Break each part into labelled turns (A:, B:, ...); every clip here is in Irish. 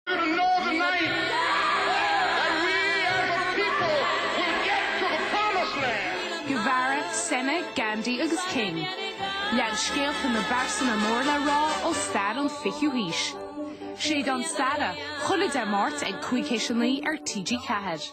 A: They're the Northern Knights! And we are the people will get to the promised land! Guevara, Senna, Gandhi agus King. Lean scéalta na bpearsana mór le rá ó stair an 20ú haois. Séideán Staire, chuile Dé Máirt ag cúig théis a naoi ar TG4.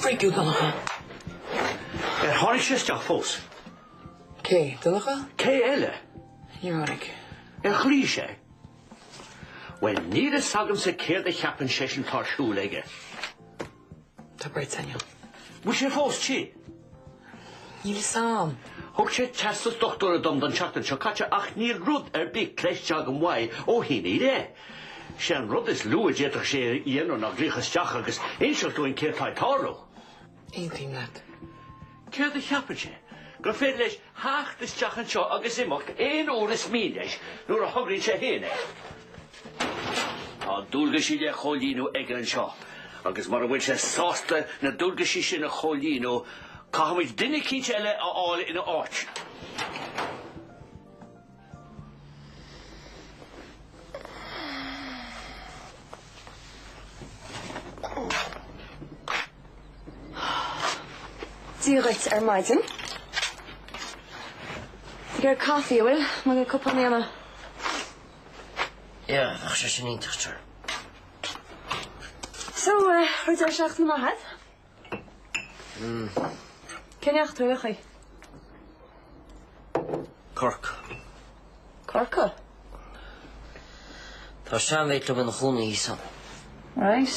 B: Frigging
C: Donncha. Ar tháinig sé isteach fós? Cé?
B: Donncha? Cé eile?
C: Níor tháinig.
B: Ar
C: ghlaoigh sé? Bhuel, níl fhios agamsa céard a cheapann seisean atá ar siúl aige.
B: Tá bride ann inniu. Bhfuil sé fós
C: tinn?
B: Níl fhios a'm. Thug sé
C: teastas dochtúra dom don seachtain seo caite ach níl rud ar bith cloiste agam uaidh ó shin i leith. Sé an rud is lú a d'fhéadfadh sé a dhéanamh ná glaoch isteach agus inseacht dúinn céard atá ag tarlú.
B: Aontaím leat. Céard
C: a cheapann sé? Gur féidir leis theacht isteach anseo agus imeacht aon uair is mian leis nuair a thograíonn sé féin é? Tá dualgaisí le comhlíonadh aige anseo agus mura bhfuil sé sásta na dualgaisí sin a chomhlíonadh, caithfimid duine eicínt eile a fháil ina áit.
D: Dia dhuit ar maidin. Ag iarraidh caife an bhfuil? B'fhéidir cupán a dhéanamh.
B: Yeah, bheadh sé sin iontach, a stór.
D: So, raibh deireadh seachtaine maith a'd? Cá ndeachaigh tú ar aon chaoi? Cork.
B: Corcaigh? Tá sean-mhate liom ina chónaí thíos ann. Right.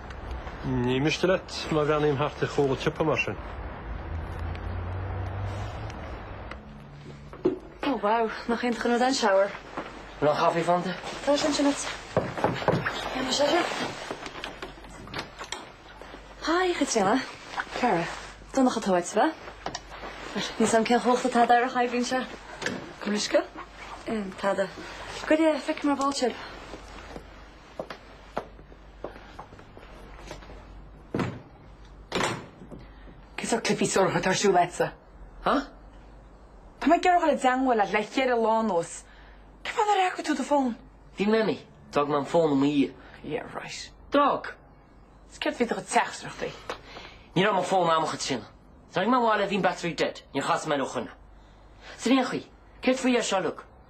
E: Ní miste leat má bhreathnaím thart ar chúl an tsiopa mar
D: sin. Oh wow, nach aoibhinn an rud é an shower. Aon chaife
B: fanta? Tá sé ansin a'd. Bhí
D: mise air thiar. Hi, Chaitríona. Cara. Donncha atá uait, ab ea? Bhuel, níl fhios a'm cén chumhacht atá d'earra Hi bhinn seo. Aon bhriosca? Tada. Goirid é, feicfidh mé ar ball sibh.
F: Cén sórt cluichí suaracha atá ar siúl agatsa, ha? Tá mé ag iarraidh dul i dteangmháil leat le cheithre lá anuas. Cén fáth nár fhreagair tú do
B: phone?
F: Bhí mé imníoch.
B: D'fhág mé mo phone i mo dhiaidh. Yeah,
F: right.
B: D'fhág? Is céard
F: faoi do chuid teachtaireachtaí? Ní raibh mo phone
B: a'm, a Chaitríona. D'fhág mé ag baile, bhí an battery dead, níor chas mé air ó shin. San aon chaoi, céard faoi é seo, Luke?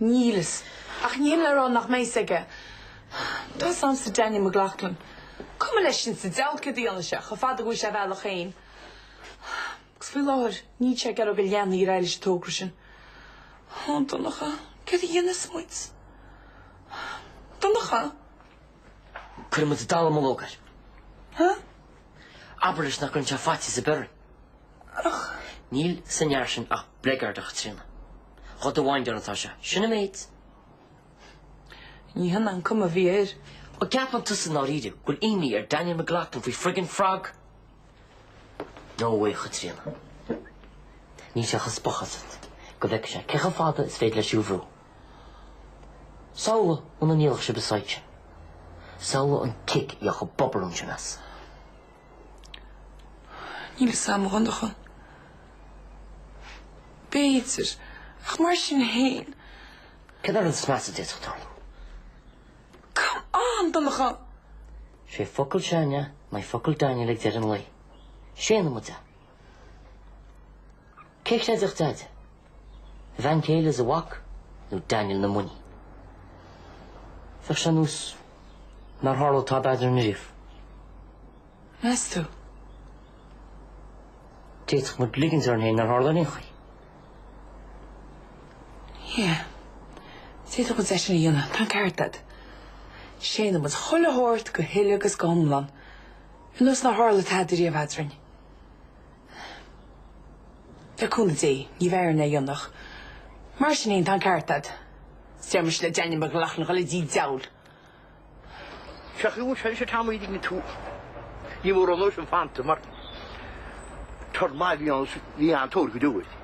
F: Níl. Ach ní hin le rá nach mbeidh fhios aige. Tá fhios agamsa Daniel McLaughlin. Cuma leis sin sa diabhal céard a dhéanfaidh sé, chomh fada go bhfaighidh sé a bhealach féin. Agus faoi láthair, níl sé ag iarraidh go leanfaí ar aghaidh leis an togra sin. Ó, Donncha, céard a dhéanfas muid?
B: Donncha? Cuirfidh muid dallamullóg air. Huh? Abair leis nach gcuireann sé faitíos ar bith orainn.
F: ach níl
B: san fhear sin ach bligeard, a Chaitríona. Do do windáil atá sé, sin an
F: méid. Ní hin an cuma a bhí air. Ó, an gceapann tusa
B: i ndáiríre go bhfuil imní ar Daniel McLaughlin faoi friggin' frog? No way, a Chaitríona. Níl sé ach ag spochadh asat go bhfeice sé cé chomh fada is féidir leis thú a bhrú. Samhlaigh muna ndíolfadh sibh an site sin. Samhlaigh an cic a gheobhadh an bobarún sin as.
F: Níl fhios agam, a Dhonncha. B'fhéidir, ach mar sin féin. Cén
B: rud is measa a d'fhéadfadh
F: tarlú? Come on, Donncha!
B: Sé focal Shania in aghaidh focal Daniel ag deireadh an lae. Séanfaidh muid é. Cé chreidfeadh deaide, a bhean chéile is a mhac nó Daniel na muiní? Bheadh sé nós nár tharla tada eadrainn riamh.
F: Meas tú?
B: D'fhéadfadh muid ligint orainn féin nár tharla ar aon chaoi.
F: Yeah. D'fhéadfadh muid é sin a dhéanamh, tá an ceart agat. Séanfaidh muid chuile shórt go huile agus go hiomlán. Nós nár tharla tada riamh eadrainn. Le cúnamh Dé, ní bheidh orainn é a dhéanamh. Mar sin fhéin, tá an ceart agat. Is deir mise le Daniel McLaughlin dhul i dtigh diabhail!
C: Féach thú ansin sa tram í dtigh tú. Ní mór an nóisin fanta mar tur maith bhí an bhí an tóir go deo.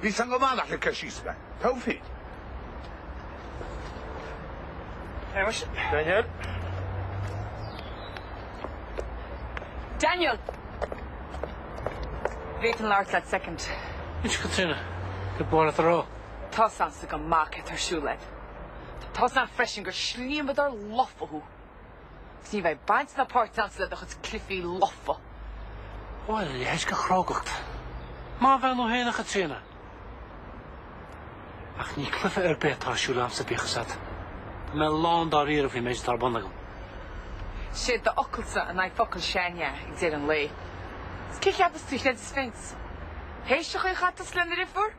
G: Bhí fhios againn go maith nach raibh ceist síos aige. Taobhthíd. Shéamais. Daniel. Daniel!
C: Bhféadfainn
F: labhairt leat soicind. Inse
H: Caitríona, go barr leat a rá. Tá fhios againn sách
F: maith céard atá ar siúl a'd. Tá fhios againn freisin gur slíomadar lofa thú. Is ní bheidh baint ná páirt againn le do chuid cluifí lofa.
H: Bhuel, a leithéid de chrógacht. Maith an bhean thú fhéin, a Chaitríona. Ach ní cluife ar bith atá ar siúl agamsa bíodh fhios a'd. Tá mé lán dáiríre faoin méid atá ar bun agam.
F: Sé do fhocalsa in aghaidh focail Shania ag deireadh an lae. Is cé a cheapas tú a chreidfeas Vince? Théis a chuid chaiteachais lena dheirfiúr?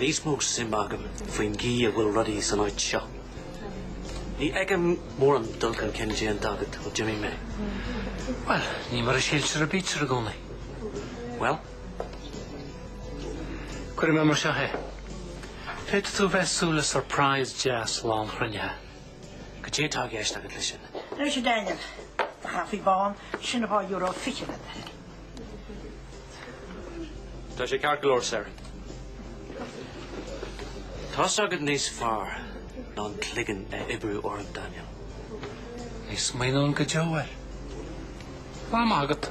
H: Níos mó suim agam faoin gcaoi a bhfuil rudaí san áit seo. Ní
I: fheicim mórán dul chun cinn déanta agat ó d'imigh mé.
J: Bhuel, ní mar a síltear a bítear i gcónaí. Bhuel? Cuirfidh mé mar seo é. Féadfaidh tú bheith ag súil le surprise deas lá an chruinnithe. Cad é atá i gceist agat leis sin? Nuair is i
K: Daniel do chaife, bun, sin dhá euro fiche le beirt.
I: Tá sé ceart go leor, Sir. Tá fhios agat níos fearr ná an cloigeann a oibriú orainn, Daniel. Ní
J: smaoineoinn go deo air. Lá maith agat.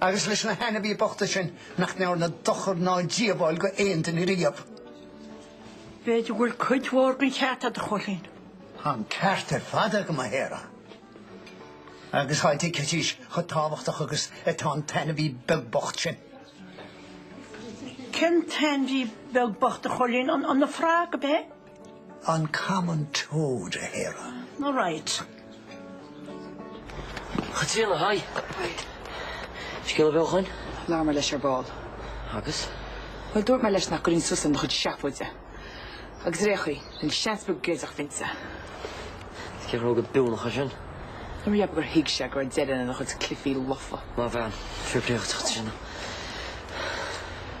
L: agus leis na hainmhí bochta sin nach ndearna dochar ná díobháil go h-aon duine riamh.
K: B'fhéidir go bhfuil cuid mhór den cheart agat, a Choilín. Tá'n ceart
L: ar fad agam, a Sharah, agus thá diceitis chomh tábhachtach agus atá an t-ainmhí beag bocht
K: sin. Cén t-ainmhí beag bocht, a Choilín? An frog, ab ea?
L: an Common Toad a Sharah. All
B: right. Chaitríona, hi. Hi. Scéal ar bith ó shin? Labhair mé leis ar ball.
F: Agus?
B: Bhuel, dúirt mé
F: leis nach gcuirfinn suas lena chuid seafóide. Agus ar é a chi, níl seans beag géilleadh
B: finte. Is cé a raibh go biúnacha sin? Nuair riab gur
F: thuig sé go raibh deireadh lena chuid cluichí lofa. Maith bhean. Fair
B: play dhuit, Chaitríona.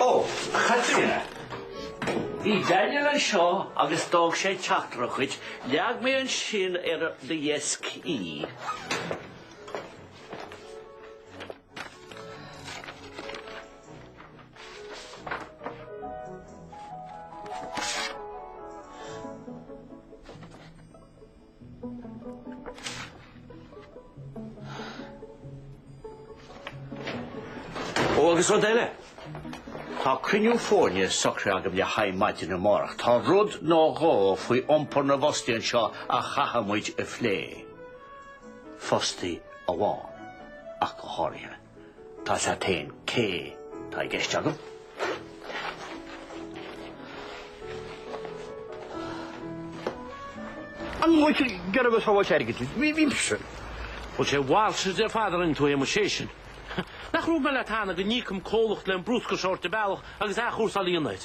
C: Ó, Chaitríona!
H: Bhí Daniel anseo agus d'fhág sé teachtaireacht dhuit, leag mé ansin ar do dheisc í.
C: Ó agus rud eile, tá cruinniú foirne socraithe agam le haghaidh maidin amárach. Tá rud nó dhó faoi iompar na bhfostaithe anseo a chaithfidh muid a phlé. fostaí amháin ach go háirithe. Tá a fhios agat féin cé tá i gceist agam, an bhfuil sé gearr agus shábháilte airgid leis, bímse. Bhfuil
H: sé mhailte de Father in tú é mo séisean. Nach raibh mé le teannadh go n-íocaim comhlacht le an bruscar seo a thabhairt ar bealach agus athchúrsáil ionaid?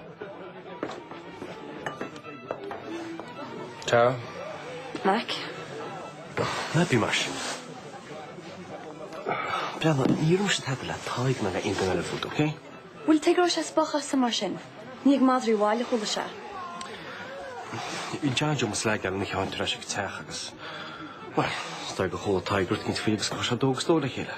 E: Tara. Mac. Ná bí mar sin. Breathnaigh, níor dhúirt mise tada le Tadhg ná le aon duine eile fút, ok? Bhuel, tuige a raibh sé ag
D: spochadh asam mar sin. Ní ag madraí an bhaile a chuala sé.
E: Bhí John Joe Mas Leaidheáin ina cheann ar ais ag an teach agus, bhuel, is dóigh gur chuala Tadhg rud éigin faoi agus gur chuir sé dó agus dó le chéile.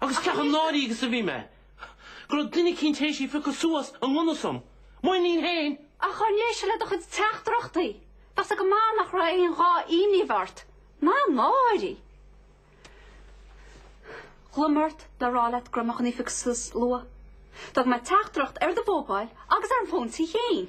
H: Agus cé chomh náirithe is a bhí mé, go raibh duine eicínt th'éis í a phiocadh suas i ngan fhios dom, m'iníon fhéin! Ach dá n-éistfeá le do
M: chuid teachtaireachtaí, bheadh fhios agat go maith nach raibh aon ghá imní a bheith ort, ná náire! Ghlaoigh mé ort le rá leat go raibh mé chun í a phiocadh suas luath. D'fhág mé teachtaireacht ar do mhóibíl agus ar an bhfón tí fhéin.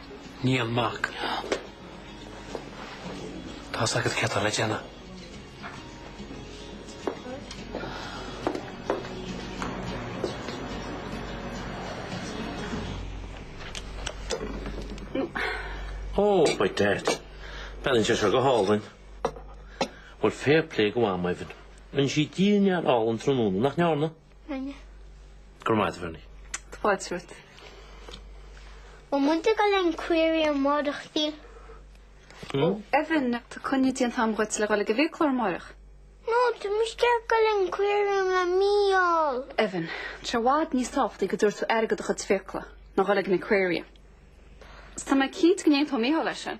J: Níl, Mac. Tá fhios agat céard atá le
H: déanamh. Ó, by dad. Breathnaíonn sé seo go hálainn. Bhuel, fair play do Mhamaí, Evan. Rinne sí dinnéar álainn tráthnóna, nach ndearna?
N: Rinne. Go
H: raibh maith agat, a Bherni. Tá fáilte
M: romhat.
N: Bhfuil muid ag dul ag an aquarium amáireach, a
M: Mhichíl? Ó, Evan, tá coinne déanta agam dhuit le dhul ag an bhfiaclóir amáireach. No,
N: tá mise ag dul ag an aquarium le Micheál. Evan, Tá
M: sé i bhfad níos tábhachtaí go dtabharfaidh tú aire do do chuid fiacla ná dhul ag an Aquarium. Is tá mé cinnte go n-aontódh Micheál leis sin.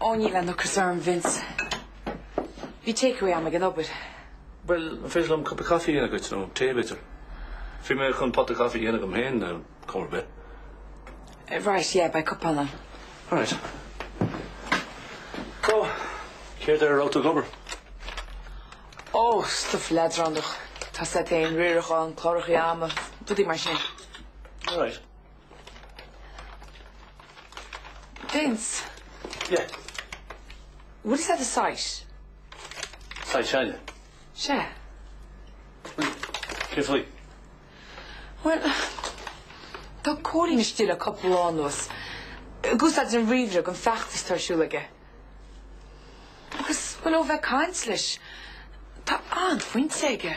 I: Ó,
F: níl aon ocras orm, Vince. Bhí takeaway agam ag an obair. Bhuel,
I: an féidir liom cup of coffee a dhéanamh dhuit, nó tae b'fhéidir? Bhí mé chun pot of coffee a dhéanamh dhom féin ar chuma ar bith. Right,
F: yeah, beidh cupán.
I: Alright. So, céard ar a
F: raibh tú ag obair? Oh,
I: stuff
F: leadránach,
I: tá
F: fhios agat fhéin, riarachán, clárachaí ama, rudaí mar sin. Alright. Vince. Yeah. Maidir leis an
I: site? Site seile? Sea.
F: Well,
I: céard faoi?
F: Well, tá Cóilín istigh le cúpla lá anuas. Ag úsáid an ríomhaire don fheachtas atá ar siúl aige. Agus, well, ó bheith ag caint leis, tá an-phointe aige.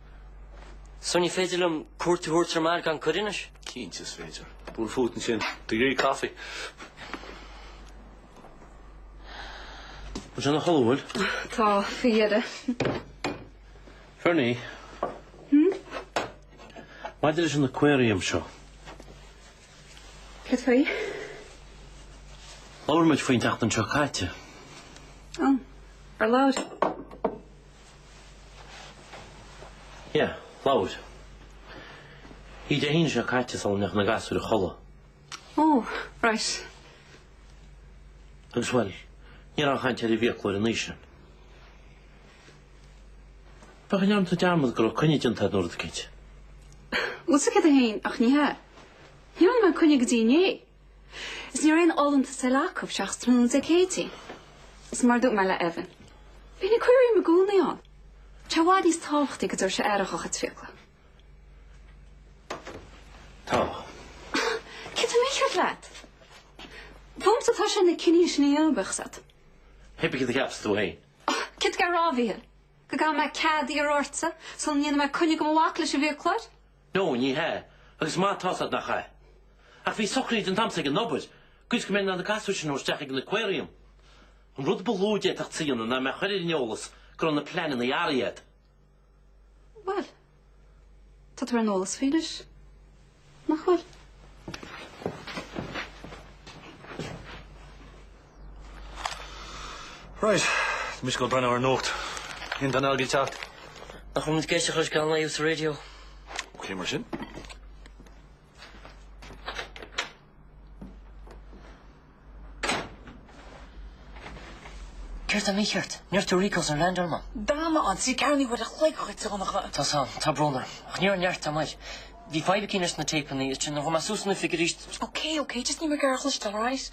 B: So, ní féidir liom cuairt a thabhairt ar m'athair gan cuireadh anois. Cinnte is
I: féidir. Buail fút ansin. Tú ag iarraidh
H: caife. Tá sé ina chodladh, an bhfuil? Tá, faoi
M: dheireadh. Berni.
H: Hm? Maidir leis an aquarium
M: seo. Cad
H: faoi? Labhair muid faoi an tseachtain seo caite. Ó,
M: ar labhair?
H: Yeah, labhair. Oíche Dé hAoine seo caite sula ndeachaigh na gasúir a chodladh. Oh,
M: right.
H: Agus, bhuel, ní raibh aon chaint ar an bhfiaclóir an oíche sin. B'fhéidir go ndearna tú dearmad go raibh coinne déanta air nuair a d'cid.
M: Usa 101 ach ní hea. Ní dhearna mé coinne go dtí inné. Is ní raibh aon fholúntas eile acu seachas tráthnóna Dé Céadaoin. Is mar a dúirt mé le Evan, beidh an aquarium i gcónaí ann. Tá sé i bhfad níos tábhachtaí go dtabharfaidh sé aire dhá chuid fiacla. Tá. Céard atá mícheart leat? Fúmsa atá sé na cinní sin a dhéanamh uaidh sat.
H: Cébí céard a cheapas tú féin. Céard atá tú ag rá,
M: a Mhíchíl? Go gcaithfidh mé cead a iarraidh ortsa sula ndéanfaidh mé coinne do mo mhac leis an bhfiaclóir? No, ní
H: hea, agus is maith atá a fhios agat nach ea. Ach bhí socruithe déanta agamsa ag an obair, sa gcaoi is go mbeinn in ann na gasúir sin a thabhairt isteach ag an aquarium. An rud ba lú a d'fhéadfása a dhéanamh ná mé a chur ar an eolas go raibh na pleananna athraithe
M: agat. Bhuel, tá tú ar an eolas faoi anois, nach bhfuil?
I: Right. Tá mise ag goil ag breathnú ar an nuacht. Aon duine eile ag teacht? Nach bhfuil
B: muid ag éisteacht Geal Naoimh sa raidió? Ok mar
I: sin.
B: Céard atá mícheart? Ní raibh tú i Rico's ar Land Armagh? D'fhan mé ann trí ceathrú
F: uair an chloig dhuit a Dhonncha. Tá a fhios agam. Tá brón orm.
B: Ach ní raibh neart agam air. Bhí fadhb eicínt leis na téipeanna is sin. An bhfuil mé suas in oifig arís? Ok, ok, just níl mé
F: ag iarraidh é a chloisteáil, alright?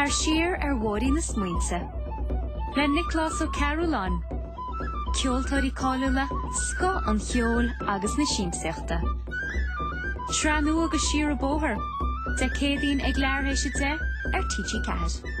O: Tar siar ar bhóithrín na smaointe le Nioclás Ó Cearbhalláin, ceoltóirí cáiliúla, scoth an cheoil agus na siamsaíochta. Sraith nua de Siar an Bóthar, Dé Céadaoin ag leathuair théis a deich ar TG4.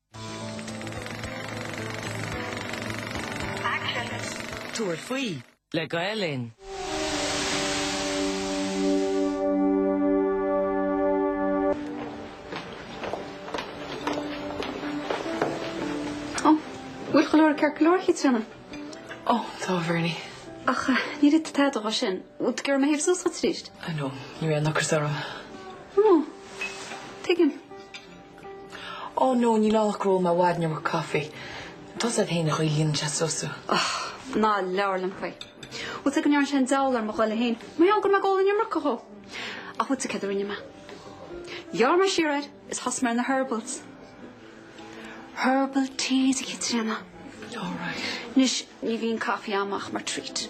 P: Tabhair faoi le Gael Linn.
M: An bhfuil go leor ceirceoireacha trína? Ó,
F: tá, Bhernie. Ach ní
M: raibh tada agat sin. Bhfuil gorm a théamh suas agat tríd? I know. Ní raibh aon
F: ocras orm. Ó,
M: tuigim.
F: Oh no, níl ann ach gur ól mé i bhfad an iomarca caife. Tá a fhios agat fhéin an chaoi a líonann sé suas thú. Ach ná
M: labhair liom faoi. Bhfuil a fhios agat go ndearna sé an diabhal ar mo ghoile fhéin? Mar gheall go raibh mé ag ól an iomarca dhó. Ach bhfuil a fhios agat céard a rinne mé? Ghearr mé siar air is thosaigh mé ar na herbals. Herbal teas a Chaitríona. Alright.
F: Anois ní bhíonn
M: caife agam ach mar treat.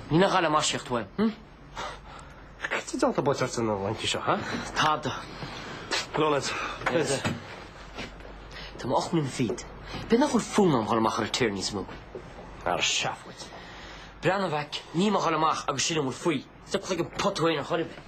B: Ní nach gáire maisíocht tú é,
C: hm? Cad tá déanta buailte ort na laethanta seo, ha? Tada.
B: Go raibh
C: leat.
B: Tá mé ocht mbliana fichead. B'fhéidir nach bhfuil fonn orm dhul amach ar an tear níos mó.
C: Ara seafóid. Breathnaigh
B: a mhac, níl mé ag dhul amach agus sin a bhfuil faoi. Stop chuig an pota féin a chur i bhfeidhm.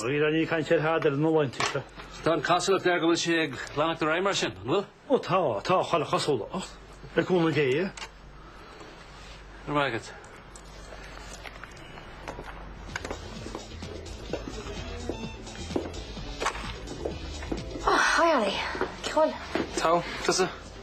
H: Dhera, níl
C: caint ar thada eile na laethanta seo. Tá an chosúlacht
H: air go bhfuil sé ag leanacht ar aghaidh mar sin, an bhfuil? Ó tá, tá
C: chuile chosúlacht, le cúnamh Dé. Go raibh maith
H: agat.
N: Oh, hi Ollie. Cool. Tá, tusa?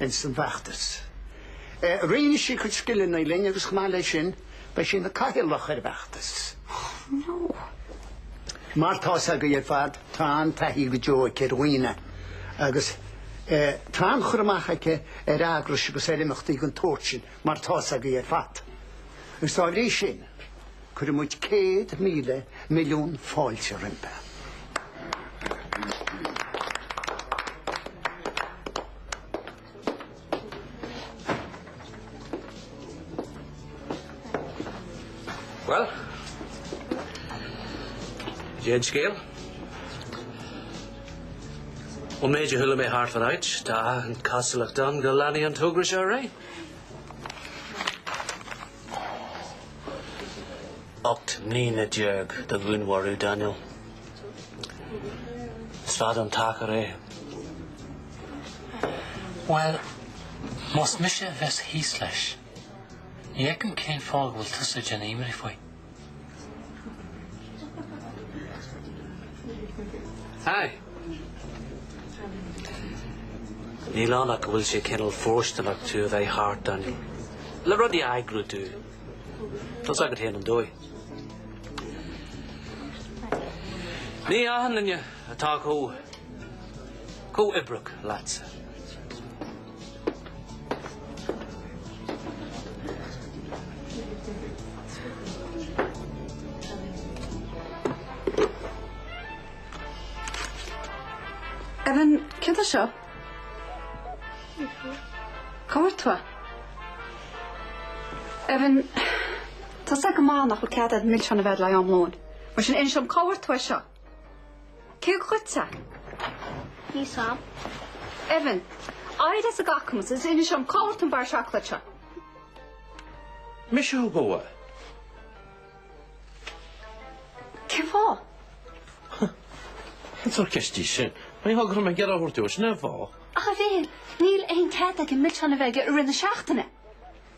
G: ins an bhfeachtas. Roinnfidh sí a cuid scileanna linn agus chomh maith le sin beidh sí ina cathaoirleach ar an bhfeachtas. Mar tá fhios agaibh ar fad tá an-taithí go deo aici ar dhaoine agus tá an-chur amach aici ar eagrais agus ar imeachtaí den tsórt sin mar tá fhios agaibh ar fad. Agus dá bhrí sin. Cuirimid céad míle milliún fáilte
A: roimpi. Bhuel, cén scéal. Ón méid a chuala mé thart fán áit, tá an chosúlacht ann go leanfaidh an togra seo ar aghaidh. 18 mbliana do dhúnmharú Daniel. Is fada an t-achar é.
J: Bhuel, más mise a bheas thíos leis, ní fheicim cén fáth go bhfuil tusa ag déanamh imní faoi.
A: Aye. Níl ann ach go bhfuil sé cineál fóirsteanach tú a bheith thart ann le rudaí a eagrú domh. Tá's agat féin an dóigh. Ní achan duine atá chomh comhoibríoch leatsa.
M: Evan, céard é seo, cá bhfuair tú é. Evan, tá's a'd go maith nach bhfuil cead a'd milseáin a bheith a'd le am lóin. Mar sin, inis dhom cá bhfuair tú é seo. Cé go gcuid te?
N: Ní sam. Evan,
M: Aire is a gcacamas, is inis orm cá bhfuil an barr seacláid seo. Mise
H: thú a.
M: Cén fáth?
H: Cén sórt ceist í sin? Ní thug orm an gearr a thabhairt uait, an é, bhá? Evan,
M: Níl aon cead agam millteanna Bheilge i rith na seachtaine.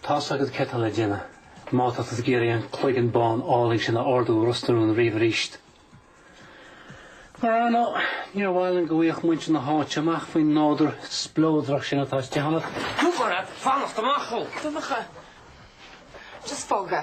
J: Tá's agat cad tá le déanamh. Má tá tú ag iarraidh an cloigeann bán álainn sin a ardú i Ros na Rún riamh arís. Mar ar ndóigh, níor mhaith linn go bhfuigheadh muintir na háite amach faoin nádúr spleodrach sin atá istigh ionat. Dúirt
B: mé leat fanacht amach ó. Donncha.
F: Just fág é.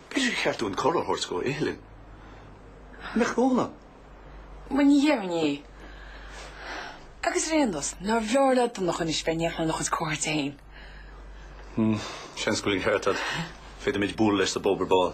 I: B'fhéidir gur cheart dúinn cuireadh a thabhairt go h-iothlainn. Nach mór an. Bhuel,
F: ní dhéarfainn é. Agus ar aon nós, nárbh fhearr le Donncha anois bheith in iothlainn agus comhartha féin? Hm, seans
I: go bhfuil an ceart agat. Féadaimid bualadh leis sa bpub ar ball.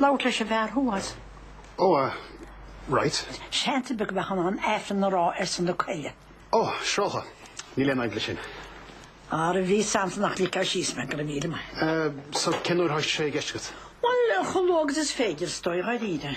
E: Labhairt leis an bhfear thuas. Oh,
L: ah, right. Seans ar bith
E: go mbeifeá in ann Aifreann a rá, ar son na coille. Oh, siúráilte,
L: níl aon fhadhb leis sin. Ar a
E: bhí Samson ach lig sé síos mé, go raibh míle maith. Eh, so
L: cén uair atá sé i gceist agat? Bhuel, chomh luath
E: agus is féidir, is dóigh, dháiríre.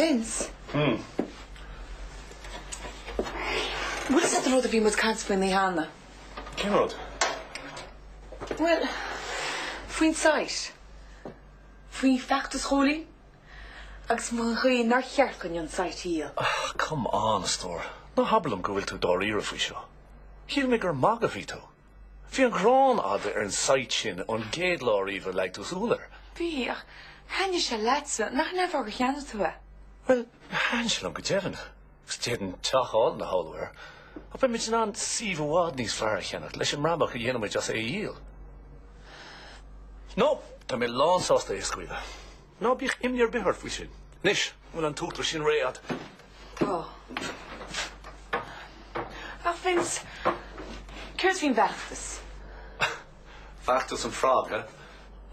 F: Vince? Hm. Bhfuil fhios a'd an rud a bhí muid ag caint faoi inné cheana? Cén rud? Bhuel, faoin site. Faoi fheachtas Chóilí agus an chaoi nár cheart dúinn an site a dhíol. Ah, come on, a
I: stór. Ná habair liom go bhfuil tú dáiríre faoi seo. Shíl mé gur ag magadh a bhí tú. Bhí an ghráin a'd ar an site sin ón gcéad lá ariamh a leag tú súil air. Bhí,
F: ach thaitnigh sé leatsa, nach in é an fáth gur cheannaigh tú é? Bhuel, thaitin
I: sé liom go deimhin, agus d'fhéadfainn teach álainn a shamhlú air, ach beidh muid in ann suíomh i bhfad níos fearr a cheannacht leis an mbrabach a dhéanfaimid as é a dhíol. No, tá mé lánsásta é a scaoileadh. Ná bíodh imní ar bith ort faoi sin. Anois, an bhfuil an t-útar sin réidh agat?
F: Tá. Ach Vince, céard faoin
I: bhfeachtas? Feachtas an frog, eh?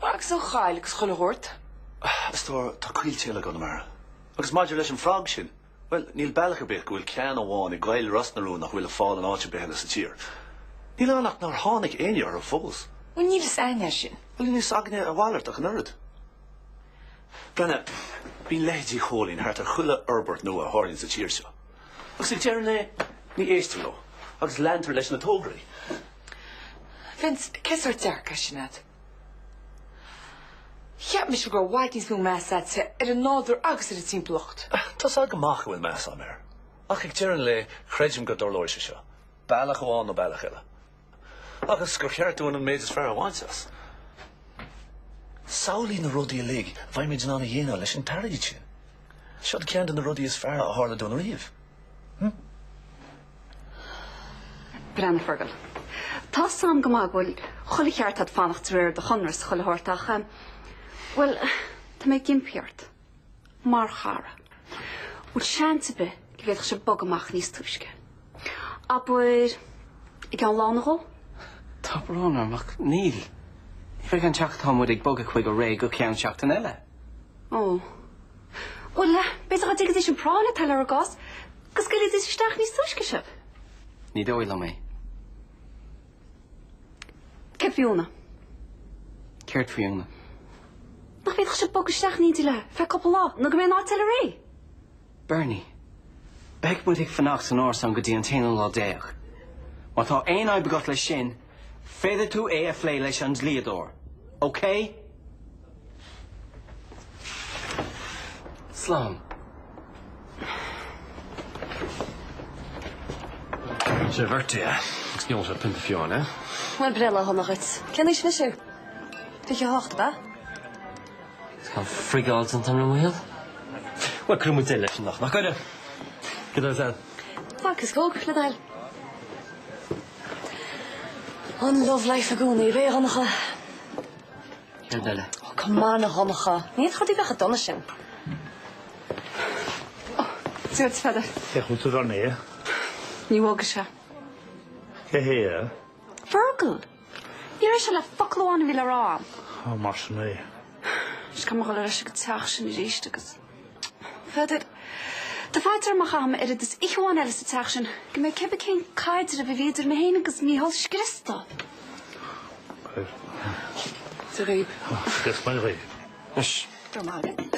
I: Agus
F: an choill agus chuile shórt? A stór,
I: tá coillte eile i gConamara. Agus maidir leis an frog sin, Bhuel, níl bealach ar bith go bhfuil ceann amháin i gcoill Ros na Rún nach bhfuil ar fáil in áit ar bith eile sa tír. Níl ann ach nár tháinig éinne orthu fós. Bhuel, níl fhios a'inn é
F: sin. Bhuel, níl fhios againne a
I: mhalairt ach an oiread. Breathnaigh, bíonn leithéidí Chóilín thart ar chuile fhorbairt nua a tharlaíonn sa tír seo. Agus ag deireadh an lae, ní éistear leo agus leantar leis na tograí.
F: Vince, cén sórt dearcadh é sin a'd? Cheap mise go raibh i bhfad níos mó meas a'dsa ar an nádúr agus ar an timpeallacht. Tá's a'd go maith go bhfuil
I: meas agam air, ach ag deireadh an lae, creidim go dtarlóidh sé seo, bealach amháin nó bealach eile, agus gur cheart dúinn an méid is fearr a bhaint as. Samhlaigh na rudaí uilig a bheimid in ann a dhéanamh leis an t-airgead sin. Seod ceann de na rudaí is fearr a tharla dúinn riamh.
M: Breandán Fergal, Tá's a'm go maith go bhfuil chuile cheart a'd fanacht ann de réir do chonradh is chuile shórt ach, bhuel, tá mé ag impí ort, mar chara, bhfuil seans ar bith go bhféadfadh sé bogadh amach níos túisce. Abair, i gceann lá nó dhó? Tá brón
Q: orm ach níl. Ní bheidh an teach atá muid ag bogadh chuige réidh go ceann seachtain eile.
M: Ó. Bhuel, b'fhéidir dhá dtuigfidís an phráinn atá lenár gcás go scaoilfidís isteach níos túisce sibh. Ní dóigh
Q: liom é.
M: Céard faoi Úna?
Q: Céard faoi
M: Úna? Nach bhféadfadh sibh bogadh isteach in éindí léi ar feadh cúpla lá nó go mbeidh an áit eile réidh?
Q: Bernie, beidh muid ag fanacht san árasán sin go dtí an t-aonú lá déag. Má tá aon fhadhb agat leis sin, Féadfaidh tú é a phlé leis an dlíodóir, okay? Slán.
D: Sé a bhirthday é, agus níl sé ag iarraidh pionta fiú amháin, eh? Bhuel, breithlá sona
O: dhuit. Cén aois anois thú? Fiche a hocht, ab ea?
B: Is ag friggáil an t-am, a Mhichíl. Bhuel,
D: caithfidh muid leis, nach gcaithfidh? Go raibh as. Vodka is
O: Coke le do thoil. An love life i gcónaí, ab ea, a Dhonncha.
B: Céard eile. Oh come
O: on a Dhonncha, ní fhéadfadh sé a bheith chomh dona
M: sin. Oh, Stuart is feather. Féachann tú ar an aer.
K: Ní bhog
M: is ea. Cé
K: hé? Fergal!
M: Ní raibh uirthi ach focal amháin a bhí le rá agam. Ó, mar sin
K: é. Is gan
M: a dhul ar ais ag an teach sin arís agus Peadar, dá bhfaightear amach gur chaith mé oiread is oíche amháin eile sa teach sin go mbeidh cibé cén caidreamh a bhí idir mé féin agus Micheál scriosta. Caidreamh.
O: De ghib. Scrios bain
K: ghaib. Anois. Grma
B: agat.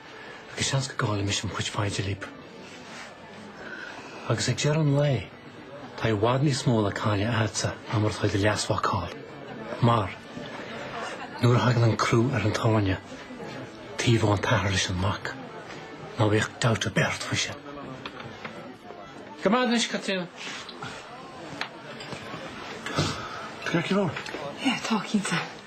J: Agus seans go gcaillimis an phub freisin libh agus ag deireadh an lae tá i bhfad níos mó le cailleadh agatsa ná mar atá ag do leasmhac a chailleadh. Mar, nuair a thagann an crú ar an tairne taobhaíonn an t-athair leis an mac, ná bíodh dabht ar bith ort faoi sin. Go maith anois, Caitríona.
D: Tá crack ar bharr? Tá, cinnte.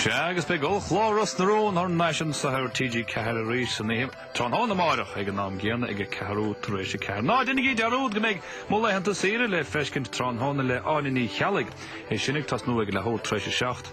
K: Sea, agus beidh ollchlár Ros na Rún thar n-ais anso ar TG4 arís san iar tráthnóna amárach ag an am céanna ag a ceathrú tar éis a ceathair. Ná déanaigí dearúd go mbeidh mo laethanta saoire le feiscint tráthnóna le Áine Ní Cheallaigh, é sin ag tosnú ag a leathuair tar éis a seacht.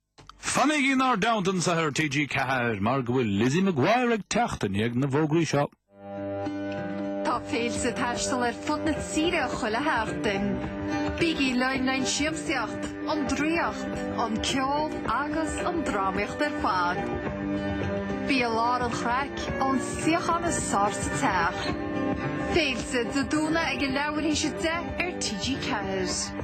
K: Fanaigí inár dteannta anseo ar TG4 mar go bhfuil Lizzie McGuire ag teacht i ndiaidh na bhfógraí
R: seo. Tá Féilte ag taisteal ar fud na tíre chuile sheachtain. Bígí linn le haghaidh an siamsaíocht, an draíocht, an ceol agus an drámaíocht ar fad. Bí i lár an chraic ón suíochán is fearr sa teach. Féilte Dé Domhnaigh ag a leathuair théis a deich ar TG4.